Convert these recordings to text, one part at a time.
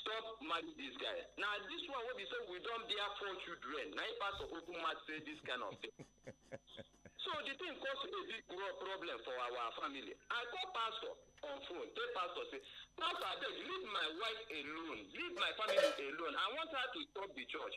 stop marry this guy na this one wey be say we don bear four children na him pastor open mouth say this kind of thing so the thing cause a big problem for our family i call pastor on phone tell pastor say pastor abeg leave my wife alone leave my family alone i want her to stop the church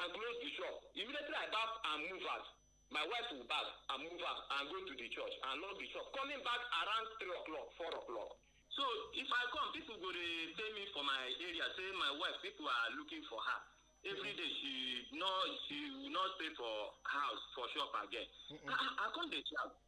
and close di shop. Immediately I baff and move out. My wife too baff and move out and go to di church and lock di shop, coming back around three o'clock, four o'clock. So if I come, pipo go dey tell me for my area sey my wife, pipo are looking for her. Everyday she no she no stay for house, for shop again. Ah ah, I come dey shout.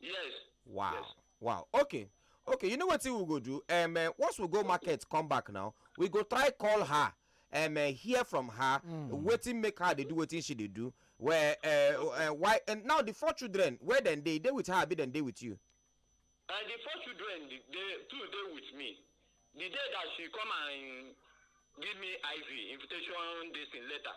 yes wow yes. wow okay okay you know what we go do um, uh, once we go market come back now we go try call her um, uh, hear from her mm. waiting make her they do waiting she they do where uh, uh, why and now the four children where then they they with her be then they with you and the four children they two they with me the day that she come and give me iv invitation this in letter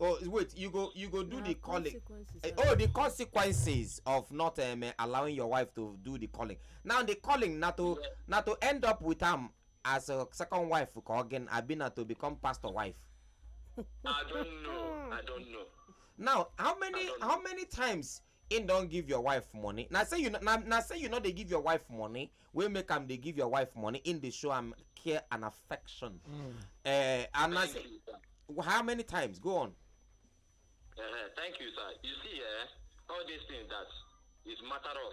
oh wait you go you go do Na the calling consequences Eh, I oh the consequences of not um, eh, allowing your wife to do the calling now the calling na to Yeah. na to end up with am as a second wife ka again abi na to become pastor wife I don't know. I don't know. now how many I don't know. how many times Him don give your wife money na say you no na na say you no dey give your wife money wey make am dey give your wife money him dey show am care and affection mm. uh, and na say how many times go on. Uh, thank you sir you see eh, all these things that is matter of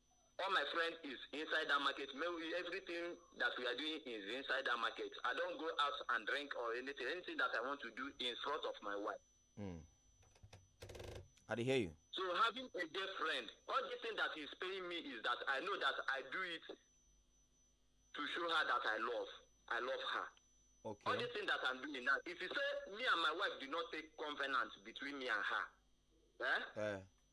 all my friend is inside that market maybe everything that we are doing is inside that market i don't go out and drink or anything anything that i want to do in front of my wife mm. i hear you so having a dear friend all the thing that is paying me is that i know that i do it to show her that i love i love her okay all the thing that i'm doing now if you say me and my wife do not take covenant between me and her eh? Uh.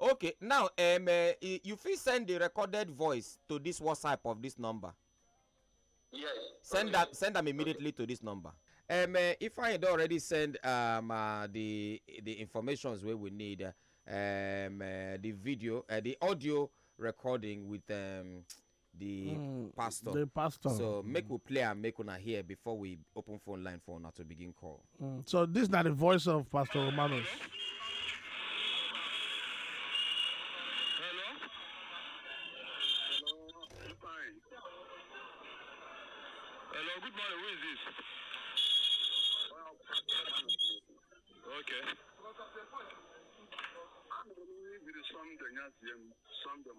okay now um, uh, you fit send the recorded voice to this whatsapp of this number yes send okay. am send am immediately okay. to this number um, uh, if i don already send um, uh, the the informations wey we need uh, um, uh, the video uh, the audio recording with um, the mm, pastor the pastor so make we play and make una hear before we open phone line for una to begin call mm, so this not the voice of pastor romanos Some them, some them,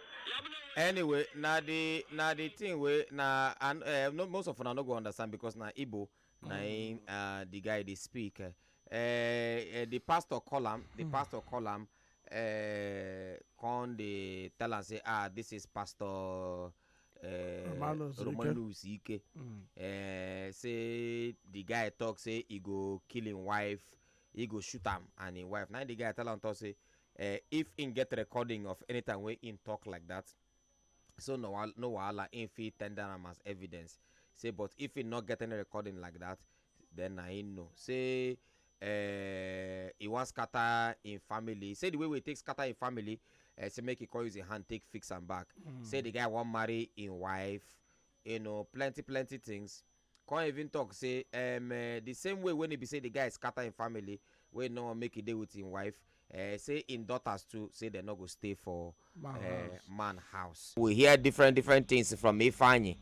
anyway na the na the thing wey na and uh, no, most of una no go understand because na igbo na him uh, the guy dey speak uh, uh, the pastor call am the mm. pastor call am uh, come dey tell am say ah this is pastor Eh, romanus ike mm. eh, say the guy talk say he go kill him wife he go shoot am and him wife na the guy tell am talk say eh, if im get recording of anytime wey im talk like that so no no wahala im fit tender am as evidence say but if im no get any recording like that then na im know say eh, e wan scatter im family say the way wey e take scatter im family eh, say make e come use im hand take fix am back say the guy wan marry im wife you know plenty plenty things Come even talk say um the same way when e be say the guy scatter him family wey no wan make e dey with him wife, um say him daughters too say dem no go stay for Man um house. man house. We hear different different things from Ifeanyi,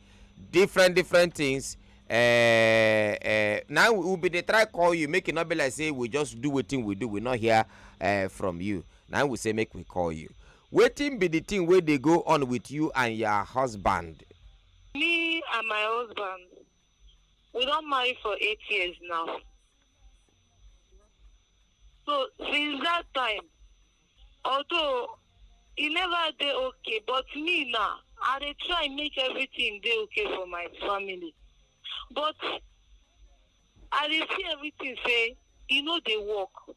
different different things um um na im we bin dey try call you make e no be like say we just do wetin we do we no hear um from you na im we say make we call you. Wetin be the thing wey dey go on with you and your husband? Me and my husband, we don marry for eight years now. So since that time, although e never dey okay, but me now, I dey try make everything dey okay for my family. But I dey see everything say e no dey work.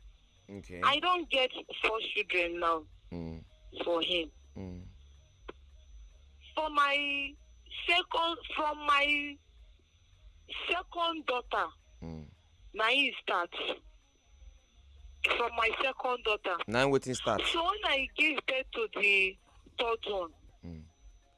Okay. I don get four children now Mm, for him. mm, For my second, from my second daughter, mm. na him start. From my second daughter. Now waiting start. So when I give birth to the third one, Mm.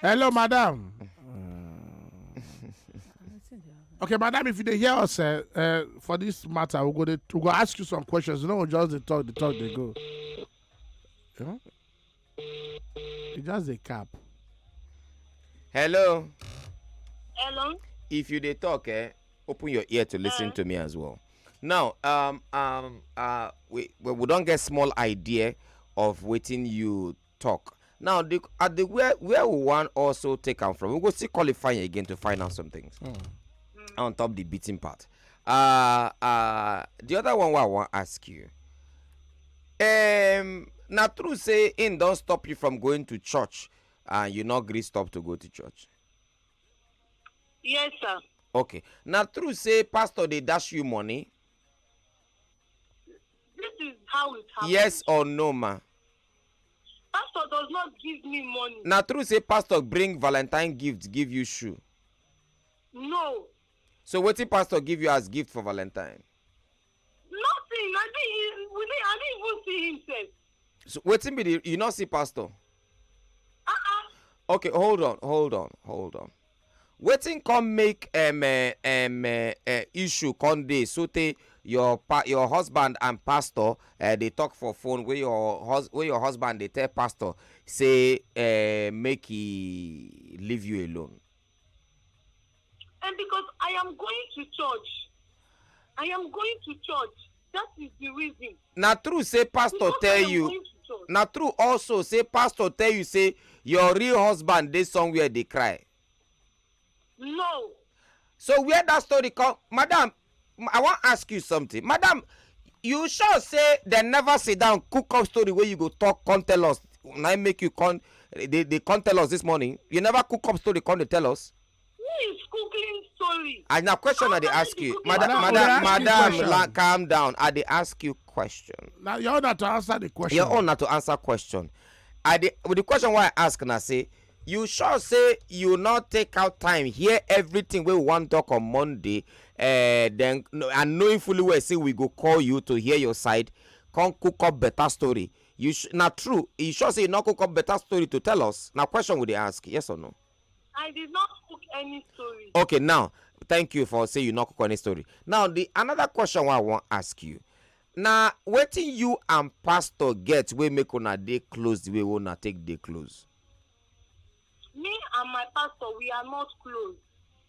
Hello, madam. Okay, madam, if you dey hear us uh, uh, for this matter, we go dey we go ask you some questions. You know, we just dey talk, dey talk, dey go. You know? You just dey cap. Hello. Hello. If you dey talk, eh, open your ear to listen uh. to me as well. Now, um, um, uh, we we, we don get small idea of wetin you talk now the at the where where we wan also take am from we go still qualify again to find out some things mm. on top the beating part uh uh the other one wey i wan ask you um na true say im don stop you from going to church and you no gree stop to go to church yes sir okay na true say pastor dey dash you money this is how it happen yes or no ma Pastor does not give me money. Na true say pastor bring valentine gift give you shoe. No. So wetin pastor give you as gift for valentine? Nothing. I didn't, we didn't, I didn't even see him sef. So wetin be the you no see pastor? Uh-uh. Okay, hold on, hold on, hold on. wetin come make um um um issue come dey sotey your pa your husband and pastor um dey talk for phone wey your hus wey your husband dey tell pastor say um make he leave you alone. And because I am going to church, I am going to church. That is the reason. na true say pastor Because tell I am you going to church. na true also say pastor tell you say your real husband dey somewhere dey cry No. so where that story come madam m- i wan ask you something madam you sure say dem never sit down cook up story wey you go talk come tell us na im make you come dey dey come tell us this morning you never cook up story come dey tell us Who is googling story? I now question I dey ask you. Madam, Madam, madam, madam, la, calm down. I dey ask you question. Now your own to answer the question. Your own to answer question. I dey with the question why I ask na say you sure say you not take out time hear everything wey we wan talk on monday uh, then and knowing fully well say we go call you to hear your side come cook up better story you na true you sure say you no cook up better story to tell us na question we dey ask yes or no. I did not cook any story. Okay, now thank you for say you not cook any story. Now the another question I want ask you. Now waiting you and pastor get we make una day close the way we una take day close. Me and my pastor we are not close.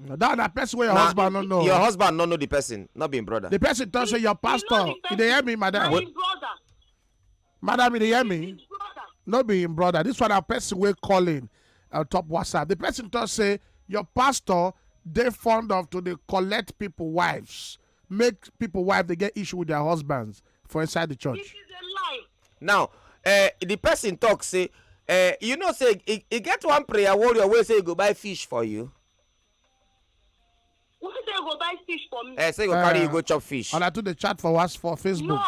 No, that na person wey your Na- husband no know. your husband no know the person not being brother the person talk say your He know pastor the you person. dey hear me Na madam him brother. madam you dey hear me His brother. no be him brother this one na person wey call in on top whatsapp the person talk say your pastor dey fond of to dey collect people wives make people wife dey get issue with their husbands for inside the church. This is a lie. now uh, the person talk say uh, you know say e, e get one prayer warrior wey say e go buy fish for you Who say go buy fish for me? uh, say e go carry you Eh. go chop fish And I do the chat for us for Facebook. no.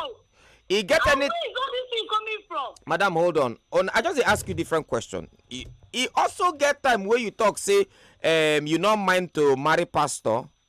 e get And any where is all this thing coming from? madam hold on on i just dey ask you different question e e also get time wey you talk say um, you no mind to marry pastor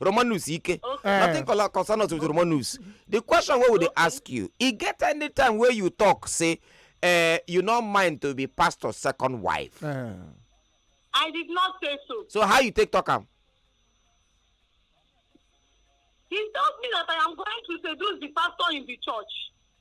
romanus ike eh. nothing concern us with romanus the question wey we dey ask you e get any time wey you talk say eh, you no mind to be pastor second wife eh. i did not say so so how you take talk am he told me that i am going to seduce the pastor in the church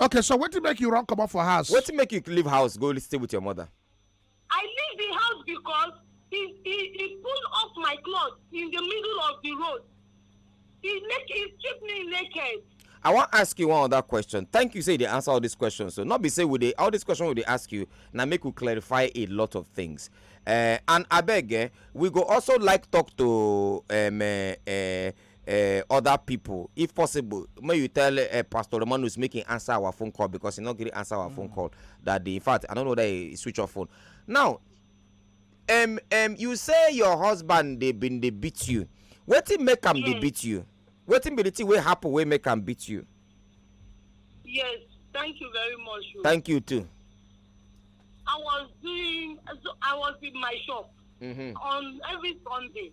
okay so wetin make you run comot for house. wetin make you leave house go stay with your mother. i leave the house because he he he pull off my cloth in the middle of the road he make he strip me naked. i wan ask you one other question thank you say you dey answer all these questions so no be say we dey all these questions we dey ask you na make we clarify a lot of things uh, and abeg eh, we go also like talk to um, uh, uh, uh, other people if possible may you tell uh, pastor romanus make him answer our phone call because he not gree answer our mm. phone call that day in fact i don't know that he switch off phone now um, um, you say your husband they been they beat you wetin make am yes. dey beat you wetin be the thing wey happen wey make am beat you. yes thank you very much. Oh. thank you too. i was doing i was in my shop. Mm -hmm. on every sunday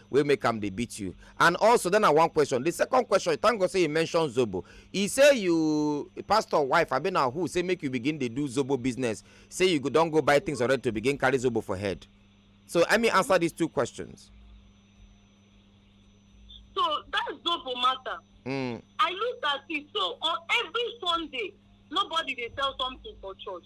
wey make am dey beat you and also then na one question the second question thank god say you mention zobo e say you pastor wife abi na who say make you begin dey do zobo business say you go don go buy things already to begin carry zobo for head so let me answer these two questions. so that zobo matter. Mm. i look at it so on every sunday nobody dey sell something for church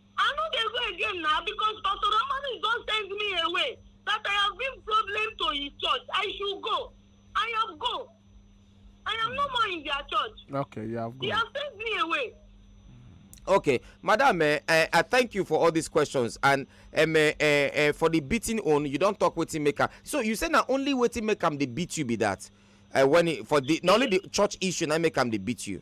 I no dey go again na because Pastor Romanis don send me away that I have been problem to his church. I should go. I have go. I am no more in their church. Okay, you have go. He has sent me away. Okay, madam, uh, uh, I thank you for all these questions and um, uh, uh, for the beating on you don't talk wetin make am. So you say na only wetin make am dey beat you be that uh, when it, for the na only the church issue na make am dey beat you.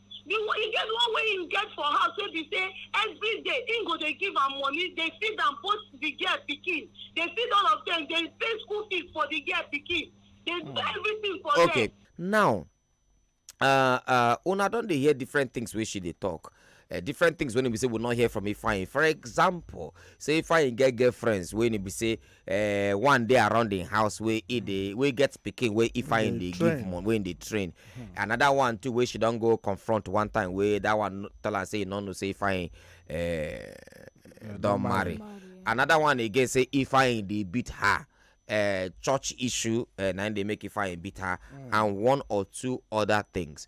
the one e get one wey him get for house wey be say every day him go dey give am money dey feed am both the girl pikin dey feed all of them dey pay school fees for the girl pikin dey do hmm. everything for them. okay now uh, uh, una don dey hear different things wey she dey talk uh, different things when we say we not hear from Ifeanyi. For example, say Ifeanyi get girlfriends when we say eh, one dey around im house wey e dey wey get pikin wey ifeanyi dey dey give train. money wey im dey train another one too wey she don go confront one time wey that one no- tell am say e no know say ifeanyi eh, don marry another one again say ifeanyi dey beat her uh, church issue uh, na im dey make ifeanyi beat her and one or two other things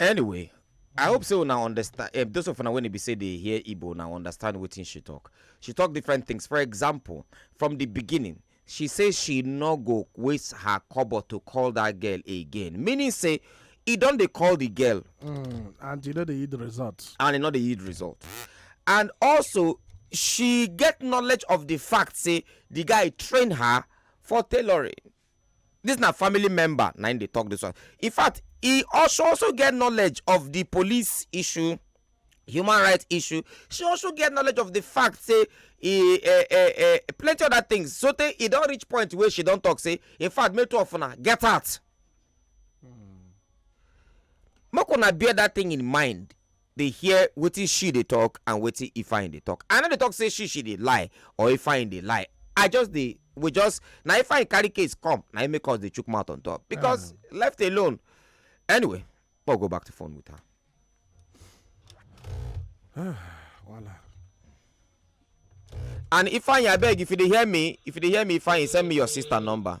anyway i hope say una understand um, those of una when e be say dey hear igbo now understand wetin she talk she talk different things for example from the beginning she say she no go waste her kobo to call that girl again meaning say e don dey call the girl mm, and e no dey yield result and e no dey yield result and also she get knowledge of the fact say the guy train her for tailoring This na family member na im dey talk this one. In fact, he also also get knowledge of the police issue, human rights issue. She also get knowledge of the fact say e eh, eh, eh, plenty other things. So tey e don reach point wey she don talk say, in fact, make two of una get out. Make una bear that thing in mind. dey hear wetin she dey talk and wetin ifeanyi dey talk i no dey talk say she she dey lie or ifeanyi dey lie i just dey we just na ifeanyi carry case come na him make us dey chook mouth on top because left alone anyway make we go back to phone with her. Voila. and ifeanyi abeg if you dey hear me if you dey hear me ifeanyi send me your sister number.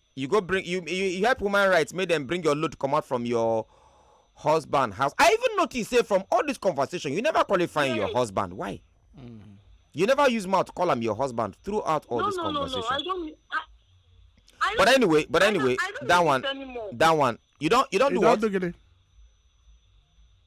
you go bring you you, you help woman rights make them bring your load come out from your husband house i even notice say from all this conversation you never qualify yes. your husband why mm. you never use mouth call him your husband throughout all no, this no, conversation no, no. I don't, I, I don't, but anyway but anyway I don't, I don't that one anymore. that one you don't you don't you do don't what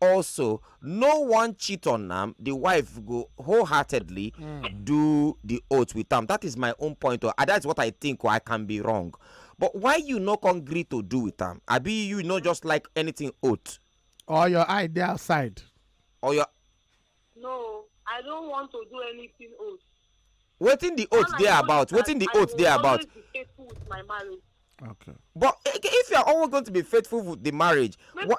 Also, no one cheat on am, the wife go wholeheartedly mm. do the oath with am. That is my own point. Or ah, that's what I think, or I can be wrong. But why you no agree to do with am? I be you not just like anything oath. Or your eye dey outside. Or your. No, I don't want to do anything oath. Wetin the oath dey about? Wetin the oath dey about? Okay. But if you are always going to be faithful with the marriage, Maybe what?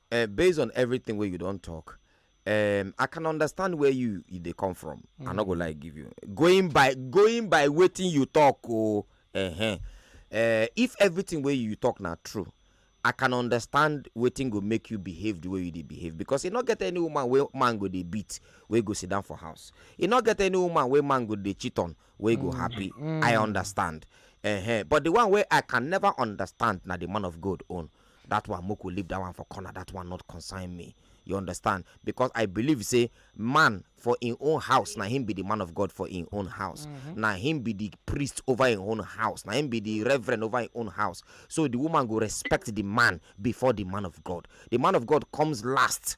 Uh, based on everything where you don't talk, um, I can understand where you, you they come from. Mm. I'm not gonna lie, give you going by going by waiting you talk. Oh, uh-huh. uh, if everything where you talk now true, I can understand waiting go make you behave the way you they behave because you not get any woman where man go they beat where go sit down for house. You not get any woman where man go they cheat on where mm. go happy. Mm. I understand. Uh-huh. But the one where I can never understand now the man of God own. that one make we leave that one for corner that one not concern me you understand because i believe say man for im own house na him be the man of god for im own house mm-hmm. na him be the priest over im own house na him be the reverend over im own house so the woman go respect the man before the man of god the man of god comes last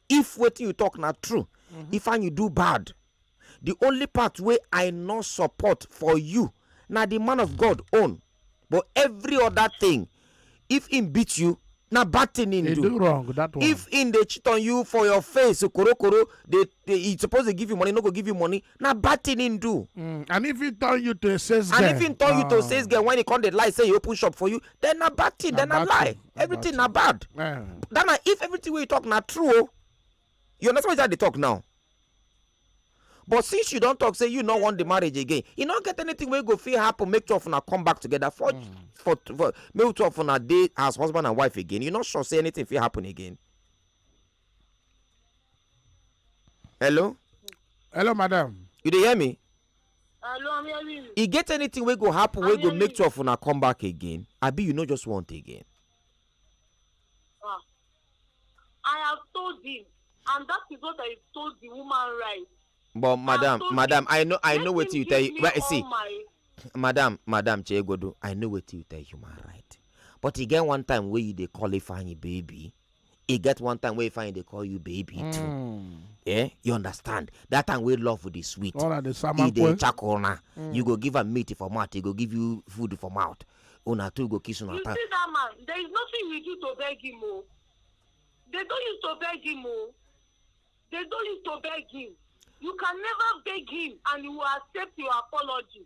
if wetin you talk na true mm-hmm. if and you do bad the only part wey i no support for you na the man of god own but every other thing if he beat you na bad thing he do wrong that one if he dey cheat on you for your face korokoro dey he suppose dey give you money no go give you money na bad thing him do mm, and if he turn you to a sales girl and if he turn you to a ah. sales girl when he come dey lie say he open shop for you then na bad thing then na lie everything na bad eh. that na if everything wey you talk na true o oh, you understand wetin i dey talk now but since you don talk say you no want the marriage again e no get anything wey go fit happen make two of una come back together for mm. for for make two of una dey as husband and wife again you no sure say anything fit happen again hello hello madam you dey hear me hello i'm hearing you e get anything wey go happen wey go make two of una come back again abi you no just want again ah i have told him and that is what i told the woman right but madam madam i know i know wetin you tell you well see madam madam chegodo i know wetin you tell human right but e get one time wey you dey call ifeanyi baby e get one time wey fine dey call you baby too Mm. eh you understand that time wey love dey sweet All right, the e dey samakwe. chakol na you go give am meat for mouth e go give you food for mouth una two go kiss una You time see that man, there is nothing you do to beg him. Oh. They don't use to beg him. Oh. They don't use to beg him. You can never beg him and he will accept your apology.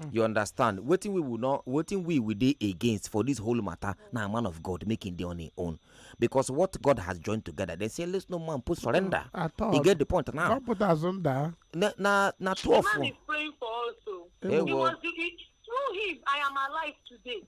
Mm. you understand wetin we will not wetin we will dey against for this whole matter na man of god make him dey on him own because what god has joined together they say let no man put surrender mm, at all you get the point now god put us under na na na twelve the man is praying for us o oh. hey, he was the, he, through him i am alive today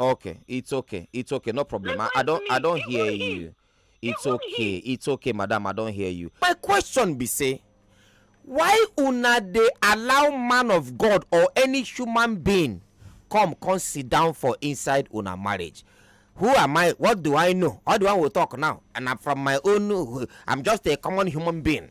Okay, it's okay. It's okay. No problem. I, I don't I don't hear you. It's okay. It's okay, madam. I don't hear you. My question be say why una dey allow man of god or any human being come come sit down for inside una marriage who am i what do i know all the one we talk now and i'm from my own i'm just a common human being